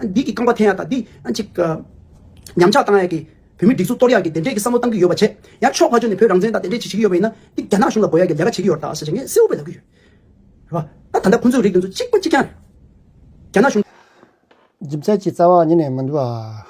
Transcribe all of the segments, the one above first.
འདི་གི་རྐང་པ་འཐེན་ཡག་དང་འདི་གཅིག་ཉམས་ཆག་བཏང་ཡག་གི། བོད་མི་སྒྲིག་འཛུགས་གཏོར་ཡག་གི་དེ་འདྲས་ཀྱི་བསམ་བློ་བཏང་གི་ཡོད་པ་བྱས། ཡང་ཕྱོགས་ཁ་ཕྱོགས་ནས་བོད་རང་བཙན་དང་དེ་འདྲས་བྱེད་བྱེད་ཀྱི་ཡོད་པ་ཡིན་ན། འདི་རྒྱ་ནག་གཞུང་ལ་འགོ་ཡག་གི་ལས་ཀ་བྱེད་ཀྱི་ཡོད་རྟགས་ཟེར་བྱས་ངས་གསལ་བོ་བོད་ལ་གུས་ཡོད། རེད་བ། ད་ད་ལྟ་ཁོང་ཚོའི་རིགས་དེ་ཚོ་གཅིག་པ་གཅིག་རྐྱང་རེད། རྒྱ་ནག་གཞུང། སྦྱིན་བསྲེག་ཀྱི་རྩ་བ་ཉིད་ནས་མི་འདུག་ཨ།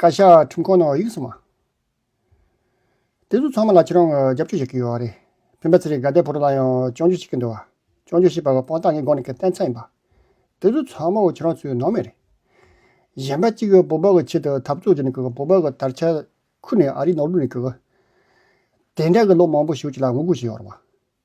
བཀའ་ཤག་ཁྲིམས་ཁང་ནང་ཡིག་ཚང་མ། དེ་ཚོ་ཚང་མ་ལ་ཁྱེད་རང་རྒྱབ་སྐྱོར་བྱེད་ཀྱི་ཡོད་རེད། བོན་པོ་ཚེ་རིང་དགའ་ལྡན་བུ་རུ་ལ་ཡང་སྤྱང་འཇུག་བྱེད་ཀྱི་འདུག་བ། སྤྱང་འཇུག་བྱེད་པ་ལ་དཔང་རྟགས་ངས་དགོངས་ནས་ཁྱེད་བསྟན་ཚར་ཡིན་པ། དེ་ཚོ་ཚང་མ་ཁྱེད་རང་ཚོའི་ནང་མི་རེད། གཞན་པ་གཅིག་བོད་པ་གི་ཆེད་དུ་འཐབ་རྩོད་བྱས་ནས་བོད་པ་གི་དར་ཆ་ཁུར་ནས་ཨ་རིའི་ནང་ལུས་ནས་དེ་འདྲ་གི་ལོ་མང་པོ་ཞིག་ལ་ངུ་དགོད་བྱས་ཡོད་རེད་བ།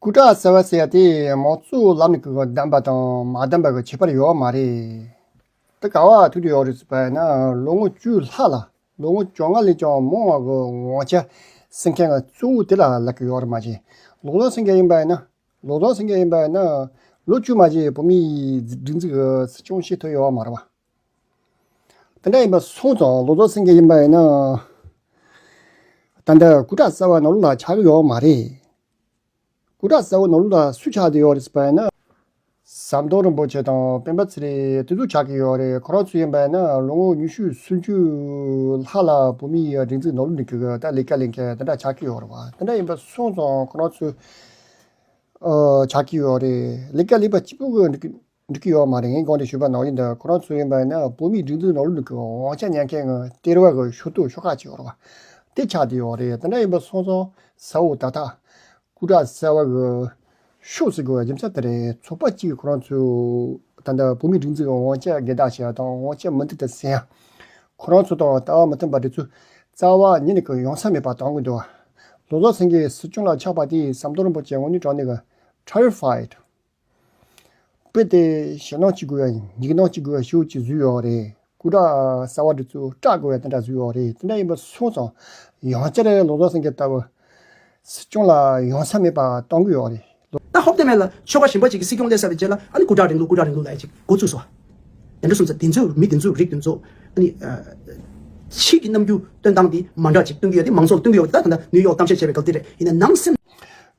སྐུ་དྲག་ཟེར་བ་ཟེར་དེ་མང་གཙོའི་ལམ་ནས་བདམས་པ་དང་མ་བདམས་པ་གི་ཁྱད་པར་ཡོད་མ་རེད། དེ་ག་བར་ཐུག་ཏུ་ཡོད་རེད་བས་ན་ལོ་ངོ་བཅུ་ལྷག་ལ་ལོ་ངོ་བཅོ་ལྔ་ལས་ཀྱང་མང་བ་གི་ངོ་ཆ་སེང་གེ་ང་གཙོ་བོ་དེ་ལ་ལབ་ཀྱི་ཡོད་རེད་མ་གཞི་ལོ་ཚང་སེང་གེ་ཡིན་པས་ན་ལོ་ཚང་སེང་གེ་ཡིན་པས་ན་ལོ་བཅུ་མ་གཞི་བོད་མིའི་སྒྲིག་འཛུགས་ཀྱི་སྲིད་སྐྱོང་བྱེད་ཐུབ་ཡོད་མ་རེད་བ། དེ་འདྲ་ཡིན་པ་སོང་ཙང་ལོ་ཙོ་སེང་གེ་ཡིན་པ་ཡིན་ན། ད་ལྟ་སྐུ་དྲག་གསར་བ་ནོར་ལུག་ལ་ཆགས་ཀྱི་ཡོད་མ་རེད། སྐུ་དྲག་གསར་བོ་ནོར་ལུག་ལ་སུས་ཆགས་ཀྱི་ཡོད་རེད་ཟེར་བ་ཡིན་ན། ཟམ་གདོང་རིན་པོ་ཆེ་དང་སྤེན་པ་ཚེ་རིང་དེ་ཚོ་ཆགས་ཀྱི་ཡོད་རེད་ཁོ་རང་ཚོ་ཡིན་པ་ཡིན་ན་ལོ་ངོ་ཉི་ཤུ་སུམ་ཅུ་ལྷག་ལ་བོད་མི་ཡི་སྒྲིག་འཛུགས་ནོར་ལུག་འདི་གི་ད་ལས་ཀ་ལས་མཁན་དེ་འདྲ་ཆགས་ཀྱི་ཡོད་རེད་བ། དེ་འདྲ་ཡིན་པ་སོང་ཙང་ཁོ་རང་ཚོ་ཆགས་ཀྱི་ཡོད་རེད་ལས་ཀ་ལས་པ་གཅིག་པུ་གི། འགྲིག་གི་ཡོད་མ་རེད་ངས་དགོངས་ཏེ་ཞུས་པར་ནོར་གྱི་འདུག་ཁོ་རང་ཚོ་ཡིན་པ་ནི་བོད་མིའི་སྒྲིག་འཛུགས་ནོར་ལུག་གི་དབང་ཆ་ཉན་མཁན་ངོས་སྟེར་བ་གི་ཞུ་གཏུག་ཤོག་ཁག་ཅིག་རོགས་འདེགས་ཆགས་བསྡད་ཡོད་རེད་དེ་འདྲ་ཡིན་པ་སོང་ཙང་ཟ་འོ་ད་ཐག་སྐུ་དྲག་གསལ་བ་གི་ཤོག་ཟེར་དགོས་པའི་རྒྱུ་མཚན་དེ་རེད་ཚོགས་པ་གཅིག་གིས་ཁོ་རང་ཚོས་ད་ལྟ་བོད་མིའི་སྒྲིག་འཛུགས་ཀྱི་དབང་ཆ་སྒེར་བདག་བྱས་དང་དབང་ཆ་མུ་མཐུད་དུ་བསྲན་ཡང་ཁོ་རང་ཚོ་དང་ལྟ་བ་མི་མཐུན་པ་དེ་ཚོས་རྩ་བ་ཉིད་ནས་ཀྱང་ཡོང་ས་མེད་པ་དང་གི་འདུག་ལོ་ཙཱ་སེང་གེ་སྲིད་སྐྱོང་ལ་ཆགས་པ་དེའི་ཟམ་གདོང་རིན་པོ་ཆེ་དངོས་གཉོས་དྲག་ནས་གི Trial Fight། དཔེ་དེ་ཞེད་སྣང་བྱེད་དགོས་ཡ་ཡིག་སྣང་བྱེད་དགོས་ཡ་ཞུ་ཅིག་བཟོས་ཡོད་རེད་སྐུ་དྲག་གསར་བ་འདི་ཚོས་སྐྲག་དགོས་ཡ་དེ་འདྲ་བཟོས་ཡོད་རེད་དེ་འདྲ་ཡིན་པ་སོང་ཙང་ཡང་བསྐྱར་ལོ་ཙཱ་སེང་གེ་ལྟ་བུ་སྲིད་སྐྱོང་ལ་ཡོང་ས་མེད་པ་གཏོང་གི་ཡོད་རེད། ད་ཧོབ་སྟོད་སྨད་ལ་ཆོལ་ཁ་གཞན་པ་གཅིག་གི་སྲིད་སྐྱོང་སླེབས་ས་རེད་ཅེས་ལ་ཨ་ནི་སྐུ་དྲག་རིང་ལུགས་སྐུ་དྲག་རིང་ལུགས་ལ་ཡ་གཅིག་འགོ་བཙུགས་སོ། དེ་འདྲ་སོང་ཙང་དེ་ཚོས་མི་དེ་ཚོའི་རིགས་དེ་ཚོ་ཨ་ནི། ཕྱིས་ཀྱི་རྣམ་འགྱུར་སྟོན་སྟངས་དེ་མ་འདྲ་ཅིག་སྟོན་གི་ཡོད་དེ་མང་ཚོགས་ལ་སྟོན་གི་ཡོད་དེ་ད་ད་ནི་ཡོག་གཏམ་བཤད་བྱས་པའི་སྐབས་དེ་རེད་ཡིན་ན་ནང་སེམས།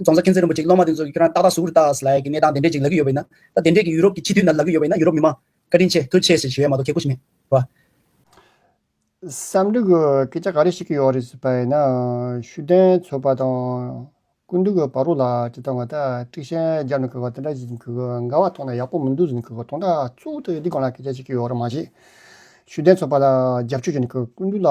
རྫོང་སར་མཁྱེན་བརྩེ་རིན་པོ་ཆེ་སློབ་མ་དེ་ཚོ་ཁྱོད་རང་ཏག་ཏག་ཟུར་ཏག་ཟླ་ཡི་གནས་སྟངས་དེ་འདྲས་ཅིག་ལ་གི་ཡོད་པ་ཡིན་ན། ད་དེ་འདྲས་ཀྱི་ཡུ་རོབ་ཀྱི་ཕྱི་དུས་ན་ལ་གི་ཡོད་པ་ཡིན་ན་ཡུ་རོབ་མི་མང། བཀའ་དྲིན་ཆེ་ཐུགས་ཆེ་ཞེས་ཞུ་ཡ་མ་གཏོགས་ཁྱེད་སྐུ་ཞིག་མེད། བ། བསམ་འདུག་སྐད་ཆ་ག་རེ་ཞིག་གི་ཡོག་རེད་ཟེར་པ་ཡིན་ན། ཤུགས་ལྡན་ཚོ་པ་དང། སྐུ་མདུན་གྱི་བ་རོ་ལ་ཅི་ལྟ་བ་ད་ཀྲིག་ཤན་རྒྱབ་ནས་གུས་པ་དེ་འདྲ་ཞིག་གུས་པ་འགའ་བ་ཐོག་ན་ཡག་པོ་མི་འདུག་ཟེར་ནས་གུས་པ་ཐོག་ན་ཙུག་ཏུ་འདི་གང་ལ་སྐད་ཆ་ཞིག་གི་ཡོག་རེད་མ་གཞི། ཤུགས་ལྡན་ཚོ་པ་ལ་རྒྱབ་སྐྱོར་བྱས་ནས་གུས་སྐུ་མདུན་ལ།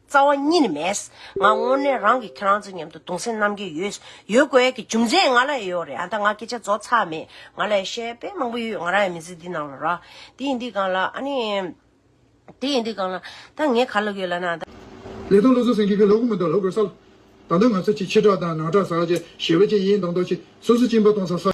རྩ་བ་གཉིས་ནི་མེད། ང་དངོས་གནས་རང་གིས་ཁྱེད་རང་ཚོའི་མཉམ་དུ་གདུང་སེམས་རྣམ་དགྱེས་ཡོད། ཡོད་དགོས་ཀྱི་རྒྱུ་མཚན་ང་ལ་ཡང་ཡོད་རེད་ཨ་མདའ་ང་སྐད་ཆ་རྫོགས་ཚར་མེད། ང་ལ་ཡང་བཤད་དཔེ་མང་པོ་ཡོད་ང་རང་ཡང་མི་ཚེ་འདི་ནང་ལ་ར། དེ་ཡིན་འདི་གང་ལ་ཨ་ནི། དེ་ཡིན་འདི་གང་ལ། ད་ངས་ག་ལབ་ཡོད་ལབ་ན་ཨ་མདའ། ལས་དང་ལོ་ཚོད་ཟིན་གི་གི་ལོ་དགུ་མི་འདུག་ལོ་དགུར་སར། ད་ལྟ་ང་ཚོ་གཅིག་ཕྱི་བྲག་དང་ནང་བྲག་ཟག་བཅས་ཞི་བ་བཅས་ཡིན་མདོག་མདོག་གཅིག་སོ་སོ་གཅིག་འབའ་སྟོང་ཚ་ས།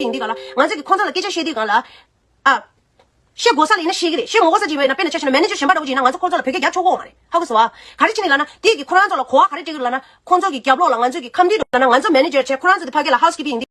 ཡིན་གྱི་ག་ལ། ང་ཚོས་ཀྱི་ཁོང་ཚང་ལ་སྐད་ཆ་བཤད་དུས་གང་ལ། ཨ། བཤད་དགོས་ས་ལ་ཡིན་ན་བཤད་ཀྱི་རེད་བཤད་མོ་དགོས་ས་ཅིག་ཡོད་ན་དཔེར་ན་ཆ་ཤས་ན་མན་ནེ་ཇོ་གཞན་པ་འདྲ་བོ་ཅིག་ཡིན་ན་ང་ཚོ་ཁོང་ཚོ་ལ་བོད་སྐད་རྒྱབ་ཆོག་གོ་འོང་བ་རེད་ཧ་གོ་སོང་ཨ། ག་རེ་བྱེད་ནི་ལགས་ན་དེས་ཀྱི་ཁོ་རང་ཚོ་ལ་གོ་བ་ག་རེ་སྤྲད་གི་ལགས་ན། ཁོང་ཚོ་གྱི་རྒྱབ་ལོག་ལ་ང་ཚོས་ཀྱི་ཁམས་འདྲིས་འགྲོ་ན་ང་ཚོ་མན་ནེ་ཇོར་བྱས་ཁོ་རང་ཚོ་དེ་ཕ་སྐད་ལ་ཧའོ་སི་ཀི་པི་ཡིན་གྱི།